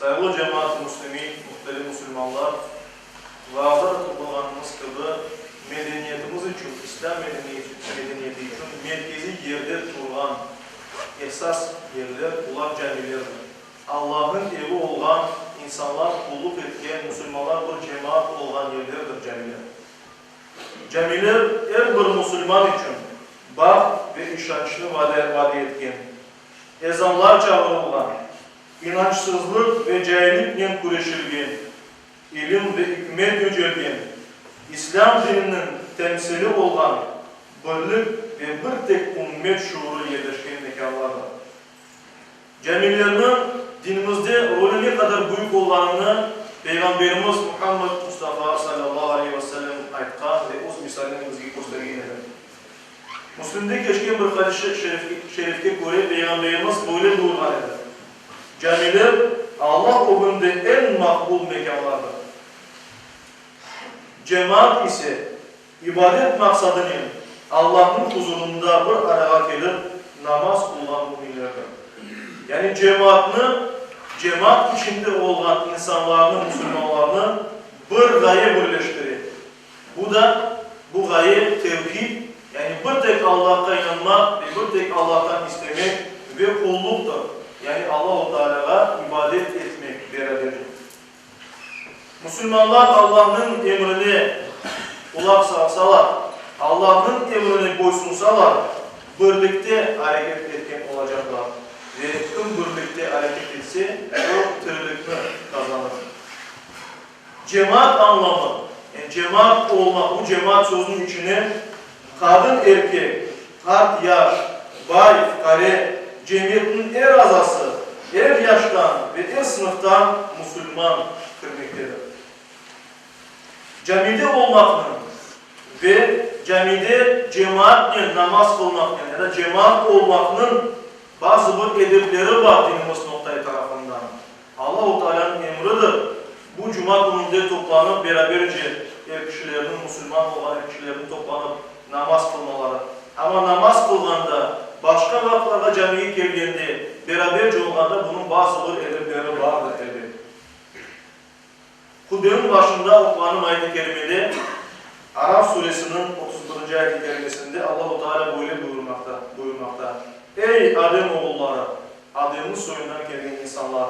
Sayılı cemaat-ı müslimin, mühterim musulmanlar, vaaza da toplanğanımız kibi, medeniyetimiz içün, İslâm medeniyeti içün merkeziy yerde turğan esas yerler, bular camilerdir. Allahnıñ evi olğan, insanlar qulluq etken, musulmanlar bir cemaat olğan yerlerdir camiler. Camiler er bir musulman içün baht ve işançnı vade etken. ezanlar çağırılğan, inançsızlıq ve cailliknen küreşilgen, ilim ve ikmet yücelgen, İslâm dininiñ temsili olğan birlik ve bir tek ümmet şuurı yerleşken mekânlardır. Camilerniñ dinimizde rolü ne qadar büyük olğanını Peyğamberimiz Muhammed Mustafa sallallahu aleyhi ve sellem aytqan ve öz misalinen bizge köstergen edi. Müslimde keçken bir hadis-i şerifke köre, Peyğamberimiz böyle buyurğan edi, Camiler Alla ögünde eñ maqbul mekânlardır, cemaat ise, ibadet maqsadınen Allanıñ huzurında bir arağa kelip namaz qılğan müminlerdir. Yani cemaatnı, cemaat içinde olğan insanlarnı, musulmanlarnı bir ğaye birleştire. Bu da, bu ğaye, tevhid, yani bir tek Allahqa inanmaq ve bir tek Allahtan istemek ve qulluqtır, yani Allahu Taalâğa ibadet etmek beraberlik. Musulmanlar Allahnıñ emrine qulaq salsalar, Allahnıñ emrine boysunsalar, birlikte areket etken olacaqlar ve kim birlikte areket etse, o tirilikni qazanır. Cemaat añlamı, yani cemaat olmaq, bu cemaat sözüniñ içine qadın, erkek, qart, yaş, bay, fuqare, cemiyetniñ er azası, er yaştan ve er sınıftan musulman kirmektedir. Camide olmaqnıñ ve camide cemaatnen namaz qılmaqnıñ ya da cemaat olmaqnıñ bazı bir edepleri bar dinimiz noqtayı tarafından. Allahu Taalânıñ emridir. Bu cuma kününde toplanıp, beraberce er kişilerniñ, musulman olğan er kişilerniñ toplanıp namaz qılmaları. Amma namaz qılğanda, başqa vaqıtlarğa camiye kelgende, beraberce olğanda bunıñ bazı bir edepleri bardır, elbet. Hudbeniñ başında oquğanım ayet-i kerimede, Araf suresiniñ otuz birinci ayet-i kerimesinde Allahu Teala böyle buyurmaqta, buyurmaqta, Ey, Adem oğulları, Ademniñ soyundan kelgen insanlar!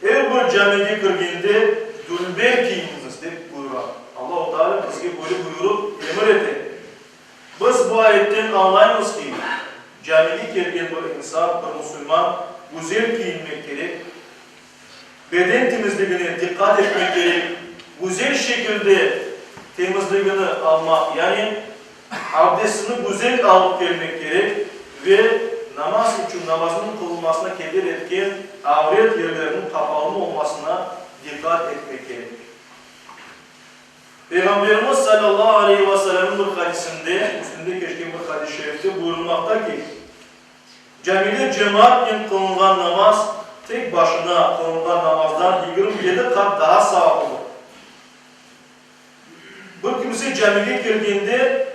Er bir camege kirgende dülber kiyiniñiz, dep buyura. Allahu Teala bizge böyle buyurıp, emir ete. Biz bu ayetten añlaymız ki, camege kelgen bir insan, bir musulman, güzel kiyinmek kerek, Beden temizligine diqqat etmek kerek, güzel şekilde temizligini almaq, yani abdestini güzel alıp kelmek kerek ve namaz içün namazınıñ qılınmasına keder etken avret yerleriniñ qapalı olmasına diqqat etmek kerek. Peyğamberimiz salâllahu aleyhi ve sellemniñ bir hadisinde, Müslimde keçken bir hadis-i şerifte buyurılmaqta ki, Camide cemaatnen qılınğan namaz tek başına qılınğan namazdan yigirmi yedi qat daa savaplıdır. Bir kimse camige kelgende,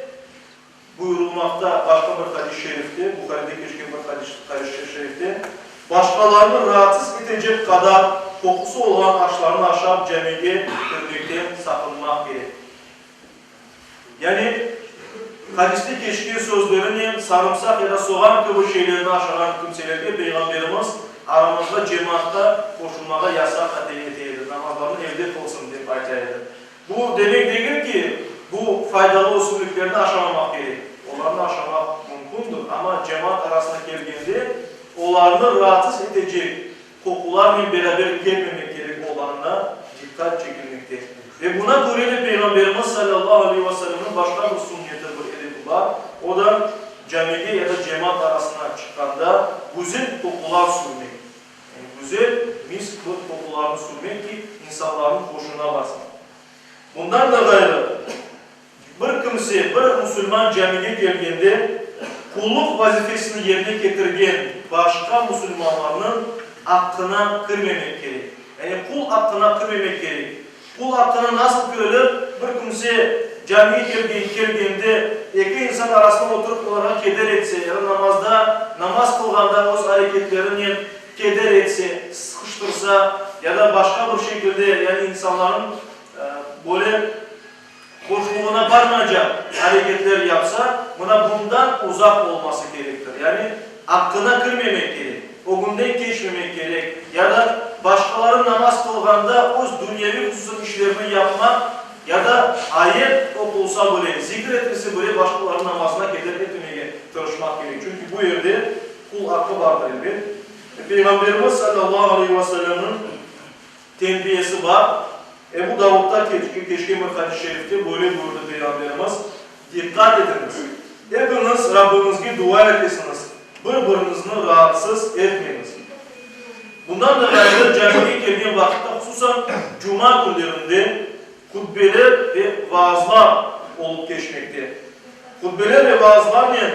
buyurılmaqta başqa bir hadis-i şerifte, Buharide keçken bir hadis-i şerifte, başqalarnı raatsız etecek qadar qoqusı olğan aşlarnı aşap camige kirmekten saqınmaq kerek. Yani, hadiste keçken sözlerinen sarımsaq ya da soğan kibi şeylerni aşağan kimselerge Peyğamberimiz aramızğa cemaatqa qoşulmağa yasaq atem ete edi, namazlarını evde qılsın, dep ayta edi. Bu demek degil ki, bu faydalı ösümliklerni aşamamaq kerek. Olarnı aşamaq mümkündir, amma cemaat arasına kelgende olarnı raatsız etecek Qoqularnen beraber kelmemek kerek olğanına diqqat çekilmekte. Ve buna köre de Peyğamberimiz salâllahu aleyhi ve sellemniñ başqa bir sünneti, bir edebi bar, o da, camide ya da cemaat arasına çıqqanda güzel qoqular sürmek. Yani güzel, misk mırh qoqularını sürmek ki, insanlarnıñ hoşuna barsın. Bundan da ğayrı, Bir kimse bir musulman camige kelgende, qulluq vazifesini yerine ketirgen başqa musulmanlarnıñ aqqına kirmemek kerek. Yani qul aqqına kirmemek kerek. Qul aqqına nasıl kirilir? Bir kimse camige kelgen, kelgende, eki insan arasına oturıp olarğa keder etse ya da namazda, namaz qılğanda öz areketlerinen keder etse, sıqıştırsa ya da başqa bir şekilde, yani insanlarnıñ böyle, Hoşluğına barmaycaq areketler yapsa, mına bundan uzaq olması kerektir. Yani aqqına kirmemek kerek, ögünden keçmemek kerek ya da başqaları namaz qılğanda öz dünyeviy hususiy işlerini yapmaq ya da ayet oqulsa bile, zikir etilse bile başqalarınıñ namazına keder etmemege tırışmaq kerek. Çünki bu yerde qul aqqı bardır, elbet. Peyğamberimiz sallallahu aleyhi ve sellemniñ. Terbiyesi bar. Ebu Davudda keçken bir hadis-i şerifte böyle buyurdı Peyğamberimiz, Diqqat etiñiz! Epiñiz Rabbiñizge dua etesiñiz, bir-biriñizni raatsız etmeñiz. Bundan da ğayrı, camige kelgen vaqıtta, hususan cuma künlerinde hutbeler ve vaazlar olıp keçmekte. Hutbeler ve vaazlarnen.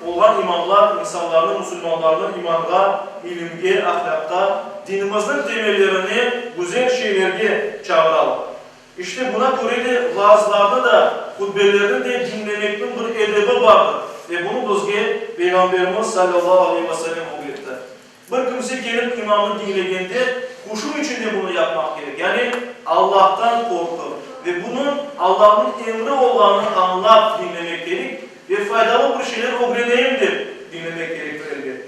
Olğan imamlar insanlarnı, musulmanlarnı imanğa, ilimge, ahlâqqa, dinimizniñ temellerine, güzel şeylerge çağıralar. İşte, buna köre de, vaazlarnı da, hutbelerni de diñlemekniñ bir edebi bardır ve bunı bizge Peyğamberimiz sallallahu aleyhi ve sellem ögretti. Bir kimse kelip imamnı diñlegende, huşu içinde bunı yapmaq kerek, yani Allahtan qorqıp ve bunıñ Allahnıñ emri olğanını añlap diñlemek kerik ve faydalı bir şeyler ögreneyim dep diñlemek kerektir, elbet.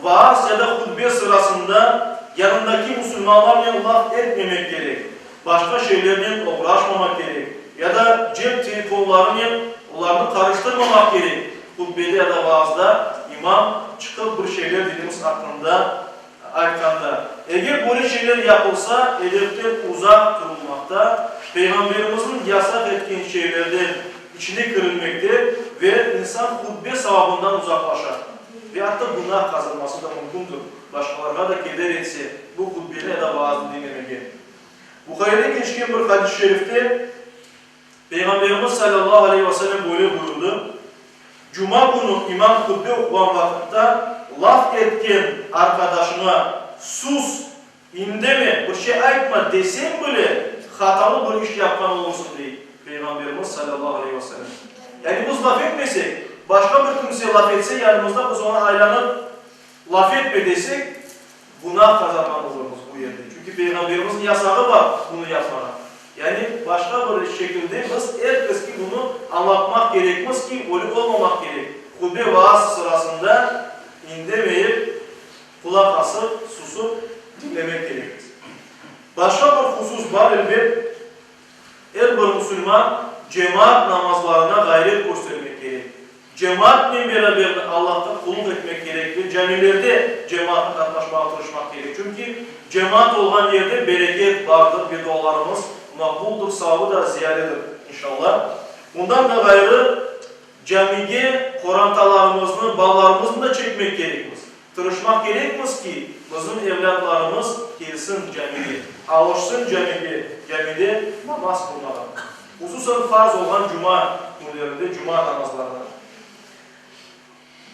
Vaaz ya da hutbe sırasında yanındaki musulmanlarnen laf etmemek kerek. Başqa şeylernen oğraşmamaq kerek, ya da cep telefonlarınen olarnı qarıştırmamaq kerek. Hutbede ya da vaazda imam çıqıp bir şeyler dediğimiz aqqında aytqanda, eger böyle şeyler yapılsa, edepten uzaq turulmaqta, Peyğamberimizniñ yasaq etken şeylerden içine kirilmekte ve insan hutbe savabından uzaqlaşa ve atta günah qazanması da mümkündir, başqalarğa da keder etse, bu hutbeni ya da vaaznı diñlemege. Buhayıda keçken bir hadis-i şerifte Peyğamberimiz salâllahu aleyhi ve selem böyle buyurdı, Cuma künü imam hutbe oquğan vaqıtta laf etken arqadaşıña sus, indeme, bir şey aytma deseñ bile, hatalı bir iş yapqan olursıñ, dey Peyğamberimiz salâllahu aleyhi ve selem. Yani biz laf etmesek, başqa bir kimse laf etse yanımızda, biz oña aylanıp, Laf etme desek, günâ qazanğan olurmız bu yerde. Çünki Peyğamberimizniñ yasağı bar bunı yapmağa. Yani başqa bir şekilde biz er keske bunı añlatmaq kerekmiz ki, ölü olmamaq kerek. Hutbe, vaaz sırasında indemeyip, qulaq asıp, susıp diñlemek kerekmiz. Başqa bir husus bar, elbet. Er bir musulman cemaat namazlarına ğayret köstermek kerek. Cemaatnen beraber de Allahqa qulluk etmek kerek ve camilerde cemaatnen qatnaşmağa tırışmaq kerek. Çünki cemaat olğan yerde bereket bardır, bedualarımız maqbuldır, savabı da ziyadedir, inşallah. Bundan da ğayrı, camige qorantalarımıznı, balalarımıznı da çekmek kerekmiz. Tırışmaq kerekmiz ki, bizim evlâtlarımız kelsin camige, avuşsın camige, camide namaz qılmağa, hususan farz olğan cuma künlerinde cuma namazlarına.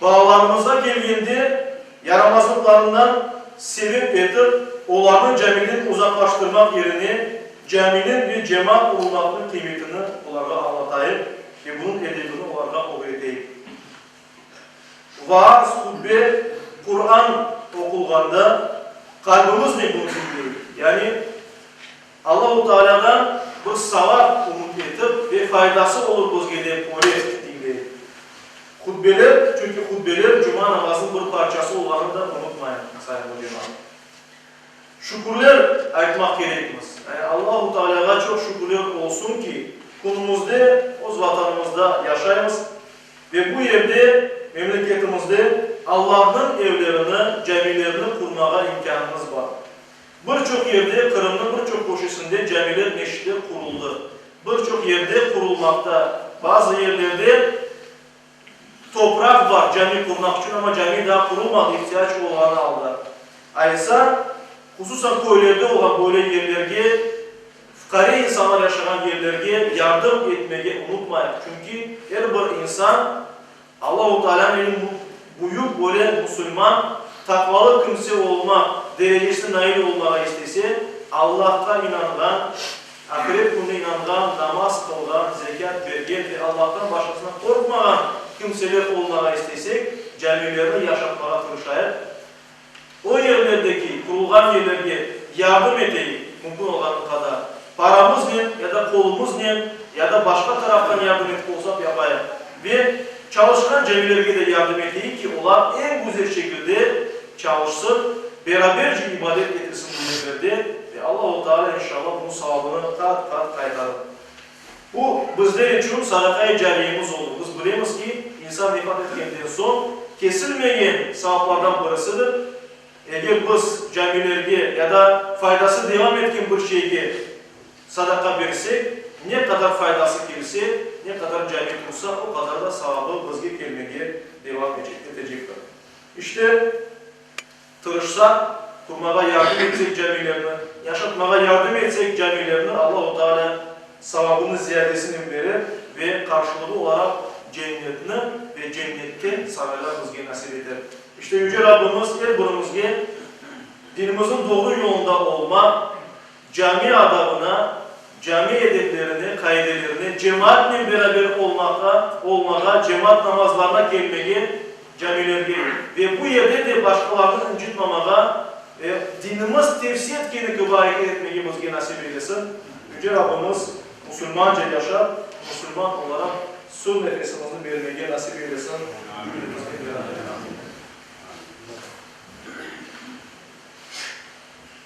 Balalarımızğa kelgende, yaramazlıqlarından sebep etip, olarnı camiden uzaqlaştırmaq yerine, caminiñ ve cemaat bulunmaqnıñ qıymetini olarğa añlatayıq ve bunıñ edebini olarğa ögreteyik. Vaaz, hutbe, Quran oqulğanda qalbimiz ne bunu bilmey, yani Allahu Taalâdan bir savap ümüt etip ve faydası olur bizge dep öylep diñley. Hutbeler, çünki hutbeler cuma namazınıñ bir parçası olğanını da unutmayıñ, sayın mücemât. Şükürler aytmaq kerekmiz, yani Allahu Taalâğa çoq şükürler olsun ki, künümizde öz Vatanımızda yaşaymız, Ve bu yerde, memleketimizde allarnıñ evlerini, camilerini qurmağa imkânımız bar. Bir çoq yerde, Qırımnıñ bir çoq köşesinde camiler, meşitler quruldı. Bir çoq yerde qurulmaqta. Bazı yerlerde topraq bar cami qurmaq içün, amma cami daa qurulmadı, ihtiyac olğanı alda. Aysa, hususan köylerde olğan böyle yerlerge Fuqare insanlar yaşağan yerlerge yardım etmege unutmayıq, çünki er bir insan Allahu Taalânen büyük böyle musulman, taqvalı kimse olmaq derecesine nail olmağa istese, Allahqa inanğan, ahiret kününe inanğan, namaz qılğan, zekât bergen ve Allahtan başqasından qorqmağan kimseler olmağa istesek, camilerni yaşatmağa tırışayıq. O yerlerdeki qurulğan yerlerge yardım eteyik, mümkün olğanı qadar, paramıznen ya da qolumıznen, ya da başqa taraftan yardım etip olsaq yapayıq. Ve çalışqan camilerge de yardım eteyik ki, olar eñ güzel şekilde çalışsın, beraberce ibadet etilsin bu yerlerde, ve Allahu Teala, inşallah, bunıñ savabını qat-qat qaytarır. Bu, bizler içün sarıqay camiyemiz oldı. Biz bilemiz ki, insan vefat etkenden soñ kesilmeyen savaplardan birisidir. Eger biz camilerge ya da faydası devam etken bir şeyge sadaqa bersek, ne qadar faydası kelse, ne qadar cami qursa, o qadar da savabı bizge kelmege devam etecektir. İşte, Tırışsaq, qurmağa yardım etsek camilerni, yaşatmağa yardım etsek camilerni, Allahu Taalâ savabını ziyadesinen berer ve qarşılığı olaraq cennetni ve cennette saraylar bizge nasip eter. İşte, Yüce Rabbimiz er birimizge dinimizniñ doğru yolunda olmaq, Cami adabına, cami edeplerine, qaidelerine, cemaatnen beraber olmaqqa, olmağa, cemaat namazlarına kelmege, camilerge ve bu yerde de başqalarnı incitmamağa ve dinimiz tevsiye etkeni kibi areket etmege bizge nasip eylesin. Yüce Rabbimiz musulmanca yaşap, musulman olaraq son nefesimizni bermege nasip eylesin cümlemizge beraber. Amin.